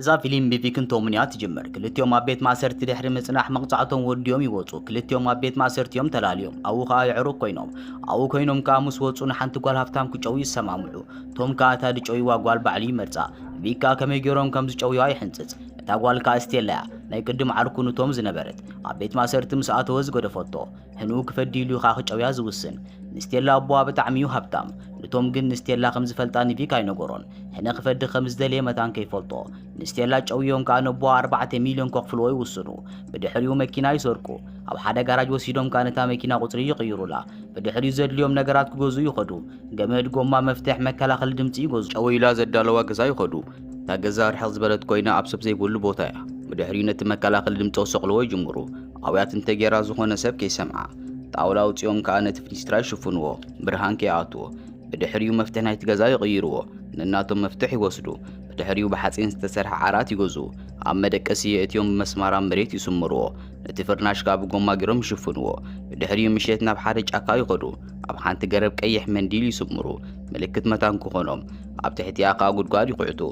እዛ ፊሊም ብቪክን ቶምን እያ ትጅምር። ክልቲኦም ኣብ ቤት ማእሰርቲ ድሕሪ ምጽናሕ መቕጻዕቶም ወዲኦም ይወጹ። ክልቲኦም ኣብ ቤት ማእሰርቲ እዮም ተላልዮም። ኣብኡ ከኣ የዕሩኽ ኮይኖም። ኣብኡ ኮይኖም ከኣ ምስ ወጹ ንሓንቲ ጓል ሃብታም ክጨውዩ ይሰማምዑ። ቶም ከኣ እታ ድጨውይዋ ጓል ባዕሉ ይመርጻ። ቪክ ከኣ ከመይ ጌሮም ከም ዝጨውይዋ ይሕንጽጽ። እታ ጓል ከኣ ስቴላ እያ። ናይ ቅድም ዓርኩ ንቶም ዝነበረት። ኣብ ቤት ማእሰርቲ ምስ ኣተወ ዝገደፈቶ። ህንኡ ክፈዲሉ ኻዕ ክጨውያ ዝውስን ንስቴላ ኣቦዋ ብጣዕሚ እዩ ሃብታም ንቶም ግን ንስቴላ ከም ዝፈልጣ ንቪክ ኣይነገሮን ህነ ክፈዲ ከም ዝደለየ መታን ከይፈልጦ ንስቴላ ጨውዮም ከኣ ነቦዋ ኣርባዕተ ሚልዮን ከኽፍልዎ ይውስኑ ብድሕሪኡ መኪና ይሰርቁ ኣብ ሓደ ጋራጅ ወሲዶም ከኣ ነታ መኪና ቁጽሪ ይቕይሩላ ብድሕሪኡ ዘድልዮም ነገራት ክገዝኡ ይኸዱ ገመድ ጎማ መፍትሕ መከላኸሊ ድምጺ ይገዙ ጨው ኢላ ዘዳለዋ ገዛ ይኸዱ እታ ገዛ ርሕቕ ዝበለት ኮይና ኣብ ሰብ ዘይብሉ ቦታ እያ ብድሕሪኡ ነቲ መከላኸሊ ድምጺ ክሰቕልዎ ይጅምሩ ኣውያት እንተ ጌራ ዝኾነ ሰብ ከይሰምዓ ጣውላ ኣውፂኦም ከኣ ነቲ ፍኒስትራ ይሽፍንዎ ብርሃን ከይኣትዎ ብድሕሪኡ መፍትሕ ናይቲ ገዛ ይቕይርዎ ነናቶም መፍትሕ ይወስዱ ብድሕሪኡ ብሓፂን ዝተሰርሐ ዓራት ይገዝኡ ኣብ መደቀሲ የእትዮም ብመስማር ኣብ መሬት ይስምርዎ ነቲ ፍርናሽ ከኣ ብጎማ ጌሮም ይሽፍንዎ ብድሕሪኡ ምሸት ናብ ሓደ ጫካ ይኸዱ ኣብ ሓንቲ ገረብ ቀይሕ መንዲል ይስምሩ ምልክት መታን ክኾኖም ኣብ ትሕቲኣ ከኣ ጉድጓድ ይኹዕቱ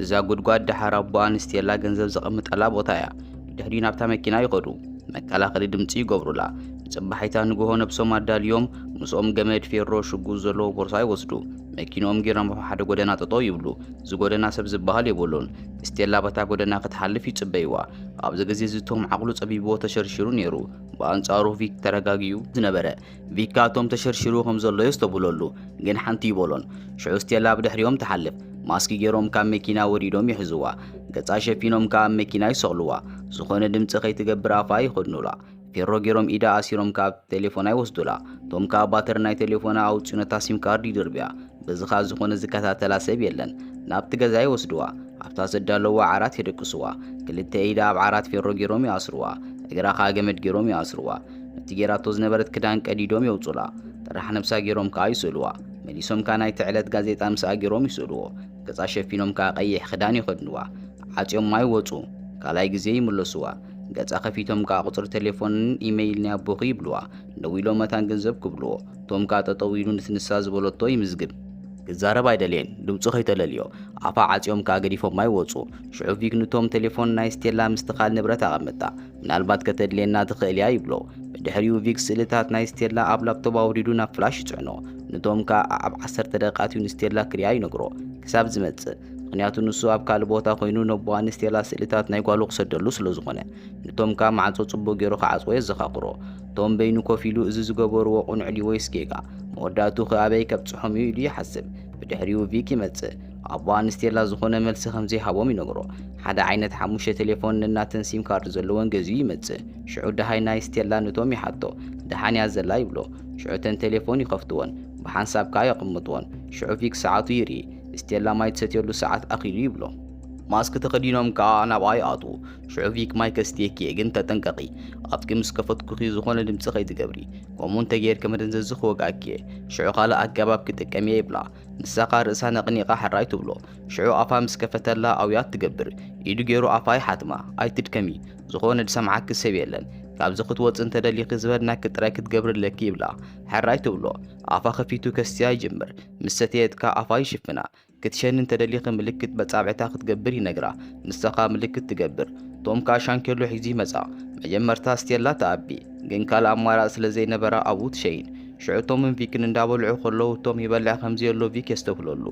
እዛ ጉድጓድ ደሓር ኣቦኣ ንስቴላ ገንዘብ ዘቐምጠላ ቦታ እያ ብድሕሪኡ ናብታ መኪና ይኸዱ። መከላኸሊ ድምፂ ይገብሩላ። ንፅባሒታ ንግሆ ነብሶም ኣዳልዮም ምስኦም ገመድ፣ ፌሮ፣ ሽጉጥ ዘለዎ ቦርሳ ይወስዱ። መኪንኦም ጌሮም ኣብ ሓደ ጎደና ጠጠው ይብሉ። እዚ ጎደና ሰብ ዝበሃል የብሉን። ስቴላ በታ ጎደና ክትሓልፍ ይፅበይዋ። ኣብዚ ግዜ እዚ ቶም ዓቕሉ ፀቢብዎ ተሸርሺሩ ነይሩ። ብኣንፃሩ ቪክ ተረጋጊኡ ዝነበረ ቪካቶም ተሸርሽሩ ከም ዘሎ የስተብህለሉ ግን ሓንቲ ይበሎን ሽዑ ስቴላ ኣብ ድሕሪኦም ትሓልፍ ማስኪ ገይሮም ካብ መኪና ወሪዶም ይሕዝዋ ገጻ ሸፊኖም ከኣ ኣብ መኪና ይሰቕልዋ ዝኾነ ድምጺ ከይትገብር ኣፋ ይኸድኑላ ፌሮ ገይሮም ኢዳ ኣሲሮም ከኣ ኣብቲ ቴሌፎና ይወስዱላ ቶም ከኣ ባተሪ ናይ ቴሌፎና ኣውጽኡ ነታ ሲም ካርድ ይድርብያ በዚ ከኣ ዝኾነ ዝከታተላ ሰብ የለን ናብቲ ገዛ ይወስድዋ ኣብታ ዘዳለዋ ዓራት የደቅስዋ ክልተ ኢዳ ኣብ ዓራት ፌሮ ገይሮም ይኣስርዋ እግራ ከኣ ገመድ ገይሮም ይኣስርዋ ነቲ ጌራቶ ዝነበረት ክዳን ቀዲዶም የውጹላ። ጥራሕ ነብሳ ጌሮም ከኣ ይስእሉዋ። መሊሶም ከኣ ናይቲ ዕለት ጋዜጣ ምስኣ ጌሮም ይስእሉዎ። ገጻ ሸፊኖም ከኣ ቀይሕ ክዳን ይኸድኑዋ። ዓጽዮማ ይወጹ። ካልኣይ ግዜ ይምለሱዋ። ገጻ ከፊቶም ከኣ ቁጽሪ ተሌፎንን ኢመይል ናይ ኣቦኺ ይብሉዋ። ደዊሎም መታን ገንዘብ ክብሉዎ። ቶም ከኣ ጠጠው ኢሉ ነቲ ንሳ ዝበለቶ ይምዝግብ። ክዛረብ ኣይደለየን። ድምጹ ከይተለልዮ። ኣፋ ዓጽዮም ከኣ ገዲፎማ ይወጹ። ሽዑ ቪክ ንቶም ተሌፎን ናይ ስቴላ ምስቲ ካልእ ንብረት ኣቐምጣ። ምናልባት ከተድልየና ትኽእል እያ ይብሎ። ብድሕሪኡ ቪክ ስእልታት ናይ ስቴላ ኣብ ላፕቶፕ ኣውሪዱ ናብ ፍላሽ ይጽዕኖ። ንቶም ከኣ ኣኣብ ዓሰርተ ደቂቕ ኣትዩ ንስቴላ ክሪኣ ይነግሮ። ክሳብ ዝመጽእ። ምኽንያቱ ንሱ ኣብ ካልእ ቦታ ኮይኑ ነቦኣ ንስቴላ ስእልታት ናይ ጓሉ ክሰደሉ ስለ ዝኾነ። ንቶም ከኣ ማዕጾ ጽቡቕ ጌሩ ክዓጽዎ የዘኻኽሮ። ቶም በይኑ ኮፍ ኢሉ እዚ ዝገበርዎ ቁኑዕ ድዩ ወይስ ጌጋ? መወዳእትኡ ከ ኣበይ ከብጽሖም እዩ ኢሉ ይሓስብ። ብድሕሪኡ ቪክ ይመጽእ። ኣቡኣ ንስቴላ ዝኾነ መልሲ ከም ዘይሃቦም ይነግሮ። ሓደ ዓይነት ሓሙሽተ ቴሌፎን ነናተን ሲም ካርድ ዘለወን ገዚኡ ይመጽእ። ሽዑ ደሃይ ናይ ስቴላ ነቶም ይሓቶ፣ ደሓን እያ ዘላ ይብሎ። ሽዑ እተን ቴሌፎን ይኸፍትወን፣ ብሓንሳብ ከኣ የቐምጥወን። ሽዑ ቪክ ሰዓቱ ይርኢ፣ ስቴላ ማይ ትሰትየሉ ሰዓት ኣኺሉ ይብሎ። ማስክ ተኸዲኖም ከኣ ናብኣ ይኣትዉ። ሽዑ ቪክ ማይ ከስትየኪ እየ ግን ተጠንቀቒ፣ ኣፍኪ ምስ ከፈትኩኺ ዝኾነ ድምጺ ከይትገብሪ፣ ከምኡ እንተ ጌርኪ መደንዘዚ ክወግኣኪ እየ፣ ሽዑ ካልእ ኣገባብ ክጥቀም እየ ይብላ። ንሳኻ ርእሳ ነቕኒቓ ሐራይ ትብሎ ሽዑ ኣፋ ምስ ከፈተላ ኣውያት ትገብር ኢዱ ጌሩ ኣፋ ይሓትማ ኣይትድከሚ ዝኾነ ዝሰምዓኪ ሰብ የለን ካብዚ ክትወጺ እንተደሊኺ ዝበልናኪ ጥራይ ክትገብሪ ኣለኪ ይብላ ሐራይ ትብሎ ኣፋ ከፊቱ ከስትያ ይጅምር ምስ ሰተየት ከኣ ኣፋ ይሽፍና ክትሸኒ እንተደሊኺ ምልክት በጻብዕታ ክትገብር ይነግራ ንሳኻ ምልክት ትገብር ቶም ከኣ ሻንኬሎ ሒዙ ይመጻ መጀመርታ ኣስትየላ ትኣቢ ግን ካልእ ኣማራጺ ስለዘይነበራ ኣብኡ ትሸይን ሽዑ ቶምን ቪክን እንዳበልዑ ከለዉ ቶም ይበልዕ ከምዘየሎ ቪክ የስተብህለሉ።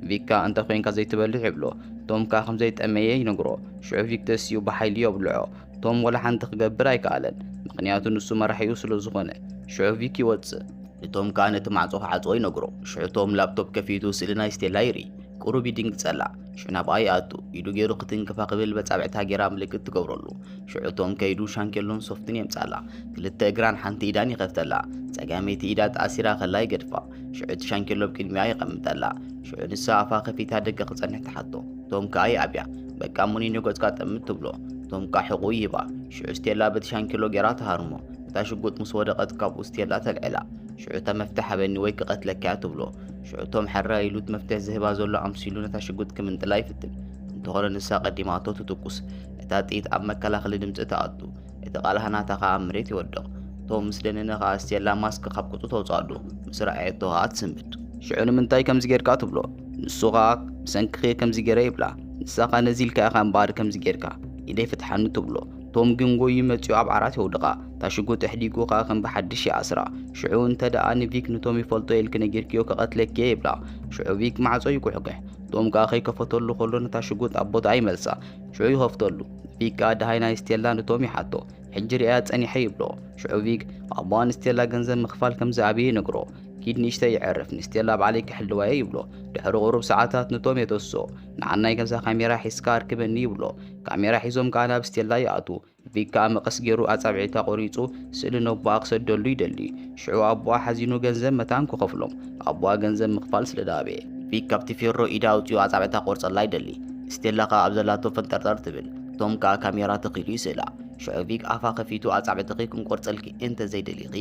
ቪክ ከኣ እንተ ኮይንካ ዘይትበልዕ ይብሎ። ቶም ከኣ ከምዘይጠመየ ይነግሮ። ሽዑ ቪክ ተሲኡ ብሓይሊ ዮብልዖ። ቶም ወላ ሓንቲ ክገብር ኣይከኣለን። ምኽንያቱ ንሱ መራሒኡ ስለዝኾነ። ሽዑ ቪክ ይወጽእ። ንቶም ከኣ ነቲ ማዕጾ ክዓጽዎ ይነግሮ። ሽዑ ቶም ላፕቶፕ ከፊቱ ስእሊ ናይ ስቴላ ይርኢ። ቁሩብ ይድንግጸላ። ሽዑ ናብኣ ይኣቱ ኢዱ ገይሩ ክትንክፋ ክብል በጻብዕታ ገይራ ምልክት ትገብረሉ ሽዑ ቶም ከይዱ ሻንኬሎን ሶፍትን የምጻላ ክልተ እግራን ሓንቲ ኢዳን ይኸፍተላ ጸጋመይቲ ኢዳ ተኣሲራ ከላ ይገድፋ ሽዑ እቲ ሻንኬሎ ብ ቅድሚኣ የቐምጠላ ሽዑ ንሳ ኣፋ ከፊታ ደገ ክጸንሕ ትሓቶ ቶም ከኣ ይኣብያ በቃ ሙኒኖ ገጽካ ጠምት ትብሎ ቶም ከኣ ሕቑኡ ይህባ ሽዑ ስቴላ በቲ ሻንኬሎ ገይራ ትሃርሞ እታ ሽጉጥ ምስ ወደቐት ካብኡ ስቴላ ተልዕላ ሽዑ እታ መፍትሕ ሃበኒ ወይ ክቐትለካያ ትብሎ ሽዑ እቶም ሐራ ኢሉት መፍትሕ ዝህባ ዘሎ ኣምሲሉ ነታ ሽጉጥ ክምንጥላ ይፍትን እንተኾነ ንሳ ቀዲማ ኣቶ ትትኩስ እታ ጥይት ኣብ መከላኸሊ ድምፂ ተኣቱ እቲ ቃልሃ ናታ ከዓ ኣብ መሬት ይወድቕ እቶም ምስ ደነነ ከዓ ስቴላ ማስክ ካብ ቁጡ ተውፅኣሉ ምስ ረኣየቶ ከዓ ትስምብድ ሽዑ ንምንታይ ከምዚ ጌርካ ትብሎ ንሱ ከዓ ብሰንክኺ ከምዚ ጌረ ይብላ ንሳ ከዓ ነዚ ኢልካ ኢኻ እምበኣር ከምዚ ጌርካ ኢደይ ፍትሓኒ ትብሎ ቶም ግን ጎዩ መጺኡ ኣብ ዓራት የውድቓ እታ ሽጉጥ ኣሕዲጉ ከኣ ከም ብሓድሽ ይኣስራ ሽዑ እንተ ደኣ ንቪክ ንቶም ይፈልጦ ኢልኪ ነጊርክዮ ከቐትለኪየ ይብላ ሽዑ ቪክ ማዕጾ ይጉሕግሕ ቶም ከኣ ከይከፈተሉ ከሎ ነታ ሽጉጥ ኣብ ቦታኣ ይመልሳ ሽዑ ይኸፍተሉ ቪክ ከኣ ደሃይ ናይ ስቴላ ንቶም ይሓቶ ሕጂ ርኣያ ጸኒሐ ይብሎ ሽዑ ቪክ ኣቦኣ ንስቴላ ገንዘብ ምኽፋል ከም ዝኣብየ ይነግሮ ኪድ ንእሽተይ ይዕርፍ ንስቴላ ባዕለይ ክሕልዋየ ይብሎ ድሕሪ ቁሩብ ሰዓታት ንቶም የተስኦ ንዓናይ ከምዛ ካሜራ ሒዝካ ኣርክበኒ ይብሎ ካሜራ ሒዞም ከኣ ናብ ስቴላ ይኣትዉ። ቪክ ከኣ መቐስ ጌሩ ኣጻብዒታ ቆሪጹ ስእሊ ነቦኣ ክሰደሉ ይደሊ። ሽዑ ኣቦኣ ሓዚኑ ገንዘብ መታን ክኸፍሎም። ኣቦኣ ገንዘብ ምኽፋል ስለ ድኣበየ። ቪክ ካብቲ ፌሮ ኢዳ ኣውጺኡ ኣጻብዕታ ክቆርጸላ ይደሊ። ስቴላ ከኣ ኣብ ዘላቶ ፈንጠርጠር ትብል። ቶም ከኣ ካሜራ ተኺሉ ይስእላ። ሽዑ ቪክ ኣፋ ከፊቱ ኣጻብዕትኺ ክንቆርጸልኪ እንተ ዘይደሊኺ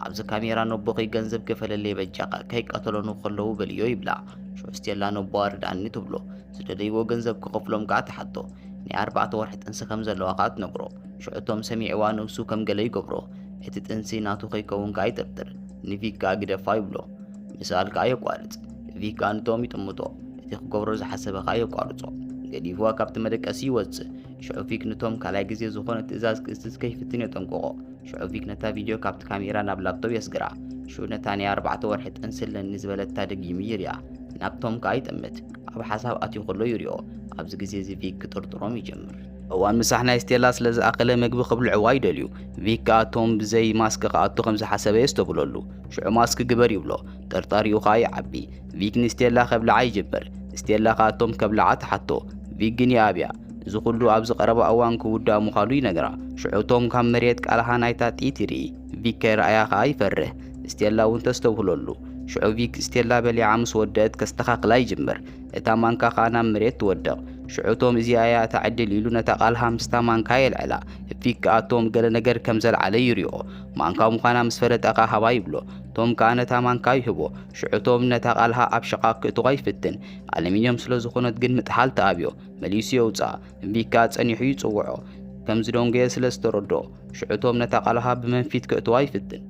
ኣብዚ ካሜራ ነቦኺ ገንዘብ ክፈለለይ በጃኻ ከይቀተሎኑ ከለዉ በልዮ ይብላ። ሽዑ ስቴላ ነቦኣ ርድኣኒ ትብሎ። ዝደለይዎ ገንዘብ ክኸፍሎም ከኣ ትሓቶ ናይ ኣርባዕተ ወርሒ ጥንሲ ከም ዘለዋ ከኣ ትነግሮ ሽዑ ቶም ሰሚዕዋ ነብሱ ከም ገለ ይገብሮ እቲ ጥንሲ ናቱ ከይከውን ከኣ ይጥርጥር ንቪክ ከኣ ግደፋ ይብሎ ምስኣል ከኣ የቋርጽ ቪክ ከኣ ንቶም ይጥምቶ እቲ ክገብሮ ዝሓሰበ ከኣ የቋርጾ ገዲፍዋ ካብቲ መደቀሲ ይወጽእ ሽዑ ቪክ ንቶም ካልኣይ ግዜ ዝኾነ ትእዛዝ ክእዝዝ ከይፍትን የጠንቅቖ ሽዑ ቪክ ነታ ቪድዮ ካብቲ ካሜራ ናብ ላፕቶፕ የስግራ ሽዑ ነታ ናይ ኣርባዕተ ወርሒ ጥንሲ ኣለኒ ዝበለታ ደጊሙ ይሪኣ ናብቶም ከኣ ይጥምት ኣብ ሓሳብ ኣትዩ ከሎ ይሪኦ። ኣብዚ ግዜ እዚ ቪክ ክጥርጥሮም ይጀምር። እዋን ምሳሕ ናይ ስቴላ ስለ ዝኣኸለ መግቢ ክብልዕዋ ይደልዩ። ቪክ ከኣ ቶም ብዘይ ማስክ ክኣቱ ከም ዝሓሰበ የስተብህለሉ። ሽዑ ማስክ ግበር ይብሎ። ጥርጣሪኡ ከኣ ይዓቢ። ቪክ ንስቴላ ከብልዓ ይጅምር። ስቴላ ከኣ ቶም ከብልዓ ትሓቶ። ቪክ ግን ይኣብያ። እዚ ኩሉ ኣብዚ ቀረባ እዋን ክውዳእ ምዃኑ ይነግራ። ሽዑ ቶም ካብ መሬት ቃልሃ ናይታ ጥይት ይርኢ። ቪክ ከይረኣያ ከኣ ይፈርህ። ስቴላ እውን ተስተብህለሉ። ሽዑ ቪክ ስቴላ በሊዓ ምስ ወደእት ከስተኻኽላ ይጅምር። እታ ማንካ ከኣ ናብ መሬት ትወድቕ። ሽዑ ቶም እዚኣ እያ እታ ዕድል ኢሉ ነታ ቃልሃ ምስታ ማንካ የልዕላ። ቪክ ከኣ ቶም ገለ ነገር ከም ዘልዓለ ይሪኦ። ማንካ ምዃና ምስ ፈለጠ ከኣ ሃባ ይብሎ። ቶም ከኣ ነታ ማንካ ይህቦ። ሽዑ ቶም ነታ ቃልሃ ኣብ ሽቓቕ ክእትዋ ይፍትን። ኣሉሚንየም ስለ ዝኾነት ግን ምጥሓል ትኣብዮ። መሊሱ የውጽኣ። ቪክ ከኣ ጸኒሑ ይጽውዖ። ከም ዝደንጎየ ስለ ዝተረድኦ። ሽዑ ቶም ነታ ቃልሃ ብመንፊት ከእትዋ ይፍትን።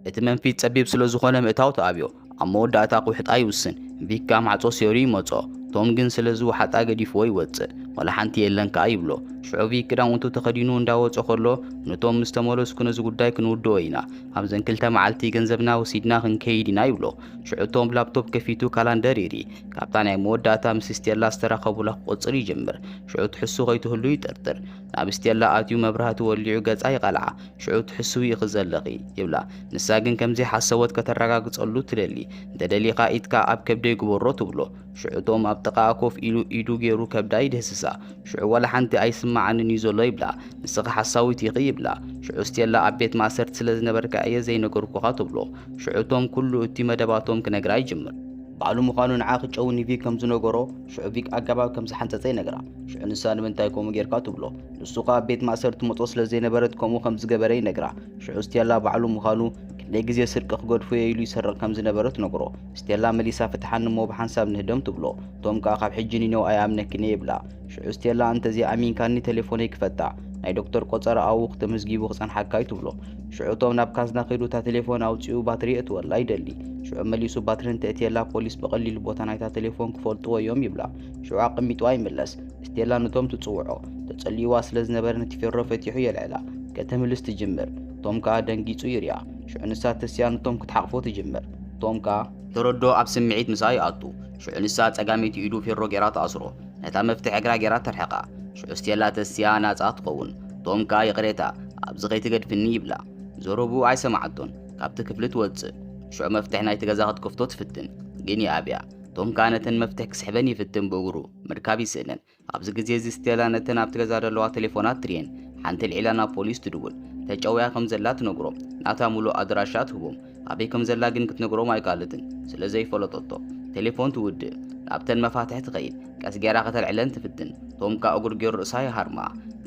እቲ መንፊት ጸቢብ ስለ ዝኾነ ምእታው ተኣብዮ። ኣብ መወዳእታ ክውሕጣ ይውስን። ቪካ ማዕጾ ሴሩ ይመጾ። ቶም ግን ስለ ዝውሓጣ ገዲፍዎ ይወጽእ። ወላ ሓንቲ የለን ከኣ ይብሎ። ሽዑ ቪክ ክዳውንቱ ተኸዲኑ እንዳ ወጾ ከሎ ንቶም ምስ ተመለስኩ ነዚ ጉዳይ ክንውድኦ ኢና። ኣብዘን ክልተ መዓልቲ ገንዘብና ወሲድና ክንከይድ ኢና ይብሎ። ሽዑ ቶም ላፕቶፕ ከፊቱ ካላንደር ይርኢ። ካብታ ናይ መወዳእታ ምስ ስቴላ ዝተራኸቡላ ክቆጽር ይጅምር። ሽዑ ትሕሱ ከይትህሉ ይጥርጥር። ናብ ስቴላ ኣትዩ መብራህቲ ወሊዑ ገጻ ይቐልዓ። ሽዑ ትሕስዊ ኢኺ ዘለኺ። ይብላ። ንሳ ግን ከም ዘይሓሰቦት ከተረጋግጸሉ ትደሊ። እንተ ደሊኻ ኢድካ ኣብ ከብደይ ግበሮ ትብሎ። ሽዑ ቶም ኣብ ጥቓኣ ኮፍ ኢሉ ኢዱ ገይሩ ከብዳ ይድህስሳ። ሽዑ ዋላ ሓንቲ ኣይስመዓንን እዩ ዘሎ ይብላ። ንስኺ ሓሳዊት ኢኺ ይብላ። ሽዑ ስቴላ ኣብ ቤት ማእሰርቲ ስለ ዝነበርካ እየ ዘይነገርኩኻ ትብሎ። ሽዑ ቶም ኩሉ እቲ መደባቶም ክነግራ ይጅምር። ባዕሉ ምዃኑ ንዓ ክጨው ኒቪክ ከም ዝነገሮ ሽዑ ቪክ ኣገባብ ከም ዝሓንጸጸ ይነግራ ሽዑ ንሳ ንምንታይ ከምኡ ጌርካ ትብሎ ንሱ ከኣ ቤት ማእሰር ትመጾ ስለ ዘይነበረት ከምኡ ከም ዝገበረ ይነግራ ሽዑ ስቴላ ባዕሉ ምዃኑ ክንደይ ግዜ ስርቂ ክገድፎ እየ ኢሉ ይሰርቕ ከም ዝነበረ ትነግሮ ስቴላ መሊሳ ፍትሓኒ እሞ ብሓንሳብ ንህደም ትብሎ ቶም ከኣ ካብ ሕጂ ኒነው ኣይኣምነክን እየ ይብላ ሽዑ ስቴላ እንተዘይኣሚንካኒ ቴሌፎነይ ክፈታ ናይ ዶክተር ቆጸራ ኣውኽ ተመዝጊቡ ክጸንሓካ እዩ ትብሎ። ሽዑ እቶም ናብ ካዝና ከይዱ እታ ቴሌፎን ኣውጺኡ ባትሪ የእትወላ ይደሊ። ሽዑ መሊሱ ባትሪ እንተእትየላ ፖሊስ ብቐሊሉ ቦታ ናይታ ቴሌፎን ክፈልጥዎ እዮም ይብላ። ሽዑ ኣቐሚጥዋ ይምለስ። ስቴላ ነቶም ትጽውዖ ተጸሊእዋ ስለ ዝነበረ ነቲ ፌሮ ፈቲሑ የልዕላ። ከተምልስ ትጅምር። ቶም ከኣ ደንጊጹ ይሪኣ። ሽዑ ንሳ ተሲኣ ንቶም ክትሓቕፎ ትጅምር። ቶም ከኣ። ተረዶ ኣብ ስምዒት ምስኣ ይኣቱ። ሽዑ ንሳ ጸጋመይቲ ኢዱ ፌሮ ጌራ ትኣስሮ ነታ መፍትሕ እግራ ጌራ ተርሕቃ ሽዑ ስቴላ ተሲኣ ናጻ ትኸውን ቶም ከኣ ይቕሬታ ኣብዚ ከይትገድፍኒ ይብላ ዘረብኡ ኣይሰማዓቶን ካብቲ ክፍሊ ትወጽእ ሽዑ መፍትሕ ናይቲ ገዛ ክትከፍቶ ትፍትን ግን ይኣብያ ቶም ከኣ ነተን መፍትሕ ክስሕበን ይፍትን ብእግሩ ምርካብ ይስእንን ኣብዚ ግዜ እዚ ስቴላ ነተን ኣብቲ ገዛ ዘለዋ ቴሌፎናት ትርየን። ሓንቲ ኣልዒላ ናብ ፖሊስ ትድውል። ተጨውያ ከም ዘላ ትነግሮም። ናታ ምሉእ ኣድራሻ ትህቦም። ኣበይ ከም ዘላ ግን ክትነግሮም ኣይከኣለትን፣ ስለ ዘይፈለጠቶ። ቴሌፎን ትውድእ። ናብተን መፋትሕ ትኸይድ። ቀስ ገይራ ከተልዕለን ትፍትን። ቶም ከኣ እጕድ ገይሩ ርእሳ ይሃርማ።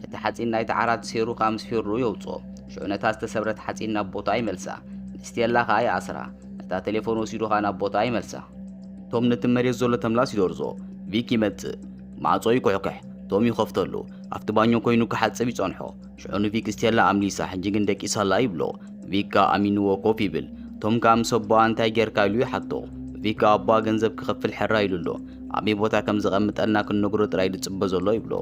ነቲ ሓጺን ናይቲ ዓራት ሰይሩ ከኣ ምስ ፌሩኡ የውጽኦ። ሽዑ ነታ ዝተሰብረት ሓጺን ናብ ቦታኣ ይመልሳ። ንስቴላ ከኣ ይኣስራ። ነታ ቴሌፎን ወሲዱ ከኣ ናብ ቦታኣ ይመልሳ። ቶም ነቲ መሬት ዘሎ ተምላስ ይደርዞ፣ ቪክ ይመጽእ፣ ማዕጾ ይኩሕክሕ፣ ቶም ይኸፍተሉ፣ ኣብቲ ባኞ ኮይኑ ክሓጽብ ይጸንሖ፣ ሽዑ ንቪክ ስቴላ ኣምሊሳ ሕጂ ግን ደቂሳ ኣላ ይብሎ፣ ቪክ ከኣ ኣሚንዎ ኮፍ ይብል፣ ቶም ከኣ ምስ ኣቦኣ እንታይ ጌርካ ኢሉ ይሓቶ፣ ቪክ ከኣ ኣቦኣ ገንዘብ ክኸፍል ሕራይ ኢሉ ኣሎ፣ ኣበይ ቦታ ከም ዘቐምጠልና ክንነግሮ ጥራይ ዝጽበ ዘሎ ይብሎ፣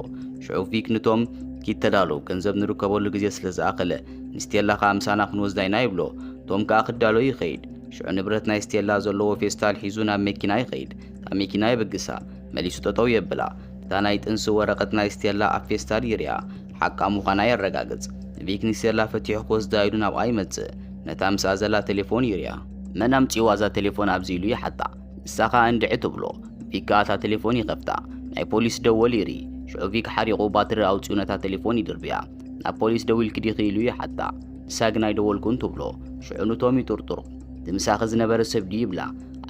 ሽዑ ቪክ ንቶም፣ ኪድ ተዳሎ ገንዘብ ንርከበሉ ግዜ ስለ ዝኣኸለ፣ ንስቴላ ከኣ ምሳና ክንወስዳ ኢና ይብሎ፣ ቶም ከኣ ክዳሎ ይኸይድ፣ ሽዑ ንብረት ናይ ስቴላ ዘለዎ ፌስታል ሒዙ ናብ መኪና ይኸይድ እታ መኪና የብግሳ መሊሱ ጠጠው የብላ እታ ናይ ጥንሲ ወረቐት ናይ ስቴላ ኣብ ፌስታል ይሪኣ ሓቃ ምዃና የረጋግጽ ቪክ ንስቴላ ፈቲሑ ክወስዳ ኢሉ ናብኣ ይመጽእ ነታ ምስኣ ዘላ ቴሌፎን ይሪኣ መን ኣምጺእዋ እዛ ቴሌፎን ኣብዚ ኢሉ ይሓታ ንሳ ከኣ እንድዒ ትብሎ ቪክ ከኣ እታ ቴሌፎን ይኸፍታ ናይ ፖሊስ ደወል ይርኢ ሽዑ ቪክ ሓሪቑ ባትሪ ኣውጺኡ ነታ ቴሌፎን ይድርብያ ናብ ፖሊስ ደዊልኪ ዲኺ ኢሉ ይሓታ ንሳ ግን ኣይደወልኩን ትብሎ ሽዑ ንቶም ይጥርጥሩ እቲ ምሳኺ ዝነበረ ሰብ ድዩ ይብላ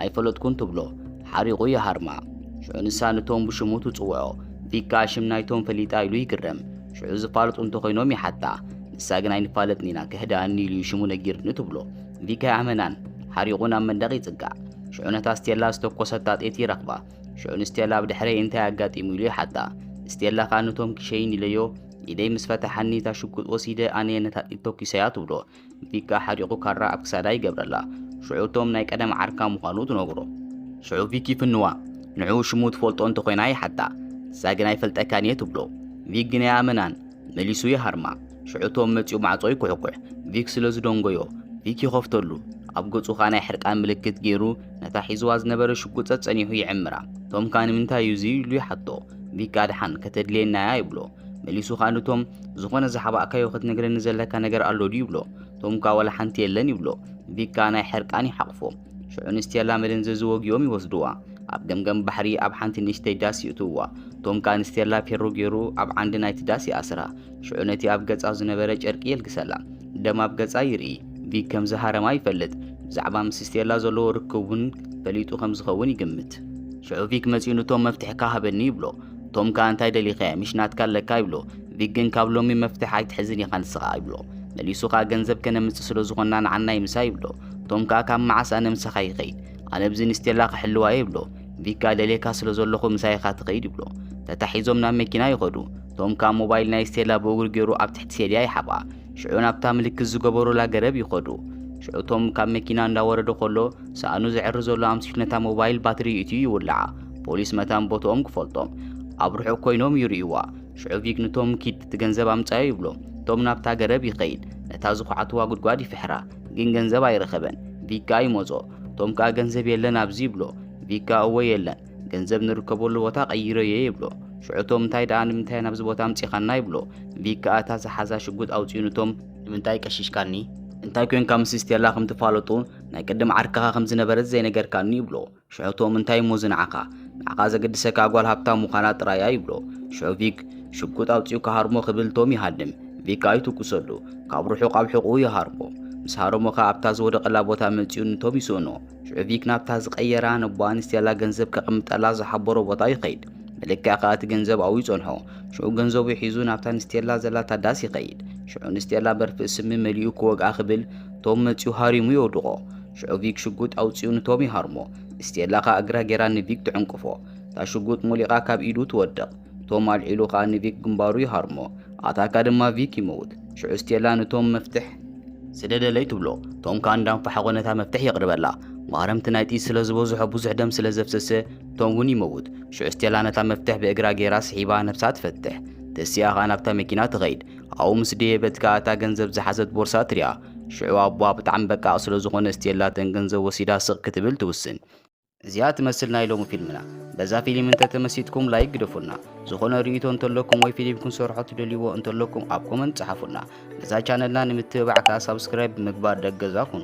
ኣይፈለጥኩን ትብሎ ሓሪቑ ይሃርማ ሽዑ ንሳ ንቶም ብሽሙ ትጽውዖ ቢካ ሽም ናይቶም ፈሊጣ ኢሉ ይግረም ሽዑ ዝፋልጡ እንተኾይኖም ይሓታ ንሳ ግን ኣይንፋለጥን ኢና ክህድኣኒ ኢሉ ሽሙ ነጊርኒ ትብሎ ቪካ ይኣመናን ሓሪቑ ናብ መንደቕ ይጽጋዕ ሽዑ ነታ ስቴላ ዝተኮሰታ ጤት ይረኽባ ሽዑ ንስቴላ ኣብ ድሕረይ እንታይ ኣጋጢሙ ኢሉ ይሓታ ስቴላ ኸኣ ንቶም ክሸይን ኢለዮ ኢደይ ምስ ፈታሓኒ እታ ሽጉጥ ወሲደ ኣነየ ነታ ጥይት ተኩሰያ ትብሎ ንፊት ከኣ ሓሪቑ ካራ ኣብ ክሳዳ ይገብረላ ሽዑ እቶም ናይ ቀደም ዓርካ ምዃኑ ትነግሮ ሽዑ ቪክ ይፍንዋ ንዑ ሽሙ ትፈልጦ እንተኾይና ይሓታ ንሳ ግን ኣይፈልጠካን እየ ትብሎ ቪክ ግን ኣይኣመናን መሊሱ ይሃርማ ሽዑ እቶም መጺኡ ማዕጾ ይኩሕኩሕ ቪክ ስለ ዝደንጎዮ ቪክ ይኸፍተሉ ኣብ ገጹ ኸኣ ናይ ሕርቃን ምልክት ገይሩ ነታ ሒዝዋ ዝነበረ ሽጉጥ ጸጸኒሑ ይዕምራ እቶም ከኣ ንምንታይ እዩ እዚ ኢሉ ይሓቶ ቢቃ ድሓን ከተድልየና እያ ይብሎ መሊሱ ከኣ ንቶም ዝኾነ ዝሓባእካዮ ክትነግረኒ ዘለካ ነገር ኣሎ ድዩ ይብሎ ቶምካ ዋላ ሓንቲ የለን ይብሎ ቪካ ናይ ሕርቃን ይሓቕፎ ሽዑ ንስቴላ መደንዘዚ ወጊኦም ይወስድዋ ኣብ ገምገም ባሕሪ ኣብ ሓንቲ ንእሽተይ ዳስ ይእትውዋ ቶምካ ንስቴላ ፔሮ ገይሩ ኣብ ዓንዲ ናይቲ ዳስ ይኣስራ ሽዑ ነቲ ኣብ ገጻ ዝነበረ ጨርቂ የልግሰላ። ደም ኣብ ገጻ ይርኢ። ቪክ ከም ዝሃረማ ይፈልጥ። ብዛዕባ ምስ ስቴላ ዘለዎ ርክብ እውን ፈሊጡ ከም ዝኸውን ይግምት። ሽዑ ቪክ መጺኡ ንቶም መፍትሒ ከ ሃበኒ ይብሎ። ቶም ከኣ እንታይ ደሊኻ እያ ምሽ ናትካ ኣለካ ይብሎ። ቪክ ግን ካብ ሎሚ መፍትሒ ኣይትሕዝን ኢኻ ንስኻ ይብሎ። መሊሱ ከኣ ገንዘብ ከነምጽእ ስለ ዝኾንና ንዓናይ ምሳ ይብሎ። ቶም ከኣ ካብ መዓስ ኣነ ምሳኻ ይኸይድ ኣነ ብዚ ንስቴላ ክሕልዋ እየ ይብሎ። ቪክ ከኣ ደልየካ ስለ ዘለኹ ምሳይ ኢኻ ትኸይድ ይብሎ። ተታሒዞም ናብ መኪና ይኸዱ። ቶም ካብ ሞባይል ናይ ስቴላ ብእግሩ ገይሩ ኣብ ትሕቲ ሴልያ ይሓብኣ ሽዑ ናብታ ምልክት ዝገበሩላ ገረብ ይኸዱ ሽዑ ቶም ካብ መኪና እንዳወረደ ከሎ ሳእኑ ዝዕሪ ዘሎ ኣምሲሉ ነታ ሞባይል ባትሪ ይእትዩ ይውልዓ ፖሊስ መታን ቦትኦም ክፈልጦም ኣብ ርሑቕ ኮይኖም ይርእይዋ ሽዑ ቪክ ንቶም ኪድ እቲ ገንዘብ ኣምጻዮ ይብሎ ቶም ናብታ ገረብ ይኸይድ ነታ ዝኹዓትዋ ጉድጓድ ይፍሕራ ግን ገንዘብ ኣይረኸበን ቪክ ከኣ ይመጾ ቶም ከኣ ገንዘብ የለን ኣብዚ ይብሎ ቪክ ከኣ እወ የለን ገንዘብ ንርከበሉ ቦታ ቀይረ እየ ይብሎ። ሽዑ እቶም እንታይ ደኣ ንምንታይ ናብዚ ቦታ ኣምጺኻና ይብሎ። ቪክ ከኣ እታ ዝሓዛ ሽጉጥ ኣውጺኡ ንቶም ንምንታይ ቀሺሽካኒ? እንታይ ኮንካ ምስ ስቴላ ከም ትፋለጡ ናይ ቅድም ዓርክኻ ከም ዝነበረት ዘይነገርካኒ ይብሎ። ሽዑ እቶም እንታይ እሞ እዚ ንዓኻ ንዓኻ ዘገድሰካ ጓል ሃብታም ምዃና ጥራይ እያ ይብሎ። ሽዑ ቪክ ሽጉጥ ኣውጺኡ ክሃርሞ ክብል ቶም ይሃድም። ቪክ ከኣ ይትኩሰሉ። ካብ ርሑቕ ኣብ ሕቖኡ ይሃርሞ። ምስ ሃረሞ ከኣ ኣብታ ዝወደቐላ ቦታ መጺኡ ንቶም ይስእኖ። ሹዕቪክ ናብታ ዝቐየራ ነቦ ኣንስቴላ ገንዘብ ከቐምጠላ ዝሓበሮ ቦታ ይኸይድ። ብልክዕ ከኣ እቲ ገንዘብ ኣብኡ ይጸንሖ። ሽዑ ገንዘቡ ሒዙ ናብታ ንስቴላ ዘላታ ዳስ ይኸይድ። ሽዑ ንስቴላ በርፍእ ስሚ መሊኡ ክወግኣ ክብል ቶም መጺኡ ሃሪሙ የውድቖ። ሽዑ ቪክ ሽጉጥ ኣውጺኡ ንቶም ይሃርሞ። ስቴላ ከኣ እግራ ጌራ ንቪክ ትዕንቅፎ። እታ ሽጉጥ ሞሊቓ ካብ ኢዱ ትወድቕ። እቶም ኣልዒሉ ኸኣ ንቪክ ግንባሩ ይሃርሞ፣ ኣታካ ድማ ቪክ ይመውት። ሽዑ ስቴላ ንቶም መፍትሕ። ስደደለይ ትብሎ፣ ቶም ከኣ እንዳ ኣንፋሕቖ ነታ መፍትሕ የቕርበላ። ማህረምቲ ናይ ጥይት ስለ ዝበዝሖ ብዙሕ ደም ስለ ዘፍሰሰ ቶም ውን ይመውት። ሽዑ ስቴላ ነታ መፍትሕ ብእግራ ገይራ ስሒባ ነብሳ ትፈትሕ። ተሲኣ ኸኣ ናብታ መኪና ትኸይድ። ኣብኡ ምስ ደየበት ከኣ እታ ገንዘብ ዝሓዘት ቦርሳ ትሪኣ። ሽዑ ኣቦኣ ብጣዕሚ በቃቕ ስለ ዝኾነ ስቴላ እተን ገንዘብ ወሲዳ ስቕ ክትብል ትውስን። እዚኣ ትመስል ናይ ሎሚ ፊልምና በዛ ፊልም እንተ ተመሲጥኩም ላይክ ግደፉና ዝኾነ ርእይቶ እንተለኩም ወይ ፊልም ክንሰርሖ ትደልይዎ እንተለኩም ኣብ ኮመንት ጸሓፉና ነዛ ቻነልና ንምትብባዕ ከኣ ሳብስክራይብ ብምግባር ደገዛ ኩኑ